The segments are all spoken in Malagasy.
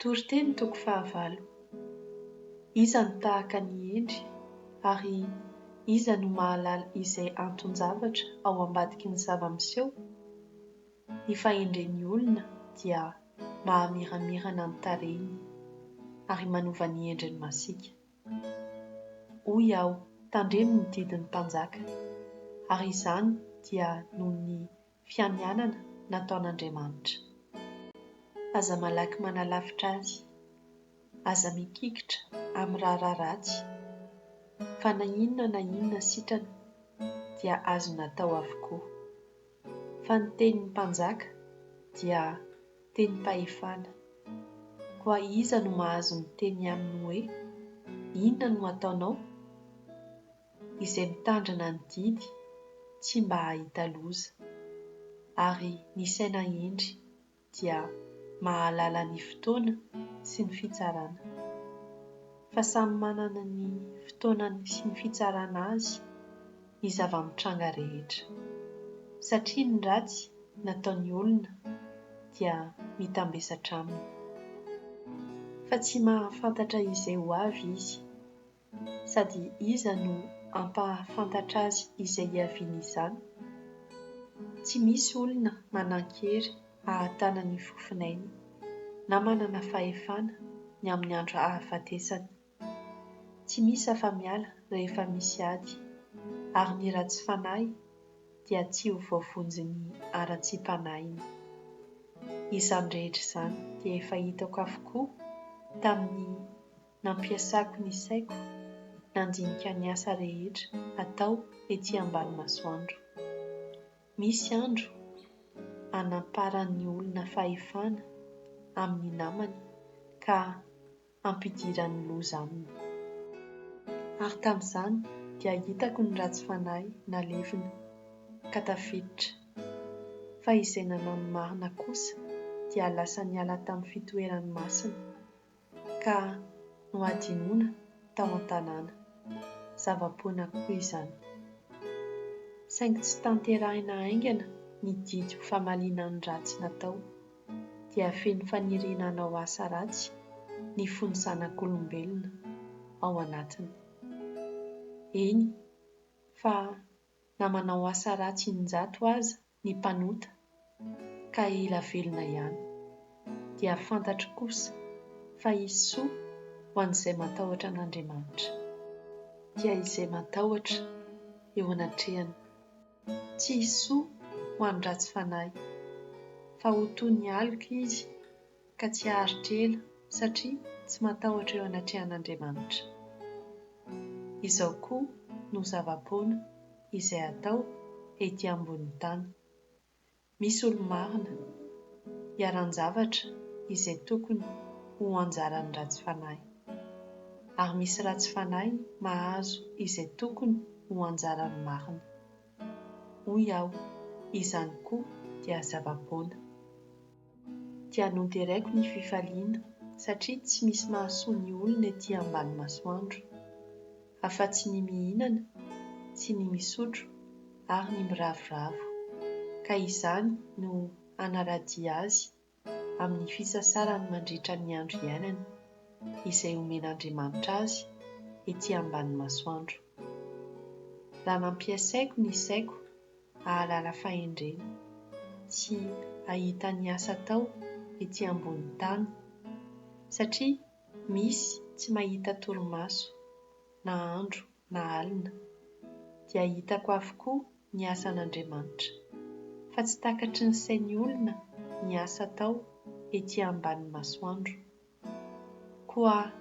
Toriteny toko fahavalo. Iza no tahaka an'i Hendry ary iza no mahalala izay anton-javatra ao ambadiky ny zava-miseho? Ny fahendren'ny olona dia mahamiramirana ny tarehiny ary manova ny endriny masiaka. Hoy aho, tandremo ny didin'ny mpanjaka, ary izany dia noho ny fianianana nataon'Andriamanitra. Aza malaky manalavitra Azy. Aza mikikitra amin'ny raharaha ratsy, fa na inona na inona sitrana dia azony atao avokoa. Fa ny tenin'ny mpanjaka dia tenim-pahefana. Koa iza no mahazo miteny aminy hoe, Inona no ataonao? izay mitandrina ny didy tsy mba hahita loza, ary ny saina hendry dia mahalala ny fotoana sy ny fitsarana. Fa samy manana ny fotoanany sy ny fitsarana azy ny zava-mitranga rehetra, satria ny ratsy nataon'ny olona dia mitambesatra aminy. Fa tsy mahafantatra izay ho avy izy, sady iza no hampahafantatra azy izay hiaviany izany? Tsy misy olona manan-kery hahatana ny fofon'ainy na manana fahefana ny amin'ny andro hahafatesany. Tsy misy afa-miala rehefa misy ady, ary ny ratsy fanahy dia tsy ho voavonjin'ny haratsiam-panahiny. Izany rehetra izany dia efa hitako avokoa tamin'ny. Nampiasako ny saiko nandinika ny asa rehetra atao ety ambany masoandro. Misy andro anamparan'ny olona fahefana amin'ny namany ka ampidiran'ny loza aminy. Ary tamin'izany dia hitako ny ratsy fanahy nalevina ka tafiditra. Fa izay nanao ny marina kosa dia lasa niala tamin'ny fitoerany masina ka nohadinoina tao an-tanàna. Zava-poana koa izany. Saingy tsy tanterahina haingana ny didy ho famaliana ny ratsy natao, dia feno faniriana hanao asa ratsy ny fon'ny zanak'olombelona ao anatiny. Eny fa na manao asa ratsy in-jato aza, ny mpanota ka hila velona ihany, dia fantatro kosa fa hisy soa ho an'izay matahotra an'Andriamanitra, dia izay matahotra eo anatrehany, tsy hisy soa ho an'ny ratsy fanahy, fa ho toy ny aloka izy ka tsy haharitra ela satria tsy matahotra eo anatrehan'Andriamanitra. Izao koa no zava-poana izay atao ety ambonin'ny tany. Misy olo-marina, iharan-javatra izay tokony ho anjaran'ny ratsy fanahy. Ary misy ratsy fanahy mahazo izay tokony ho anjaran'ny marina. Hoy aho, izany koa dia zava-poana. dia noderaiko ny fifaliana satria tsy misy mahasoa ny olona ety ambany masoandro, afa-tsy ny mihinana sy ny misotro ary ny miravoravo, ka izany no hanaradia azy amin'ny fisasarany mandritra ny andro iainany, izay omen'Andriamanitra azy ety ambany masoandro. Raha nampiaisaiko ny saiko hahalala fahendrena, sy hahita ny asa atao ety ambonin'ny tany, satria misy tsy mahita torimaso, na andro na alina, dia hitako avokoa ny asan'Andriamanitra, fa tsy takatry ny sain'ny olona ny asa atao ety ambany masoandro. Koa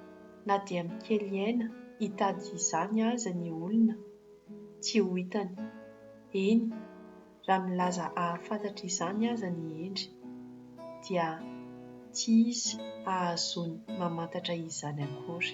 na dia mikely aina hitady izany aza ny olona, tsy ho hitany, eny, raha milaza hahafantatra izany aza ny hendry, dia tsy izy hahazoany mamantatra izany akory.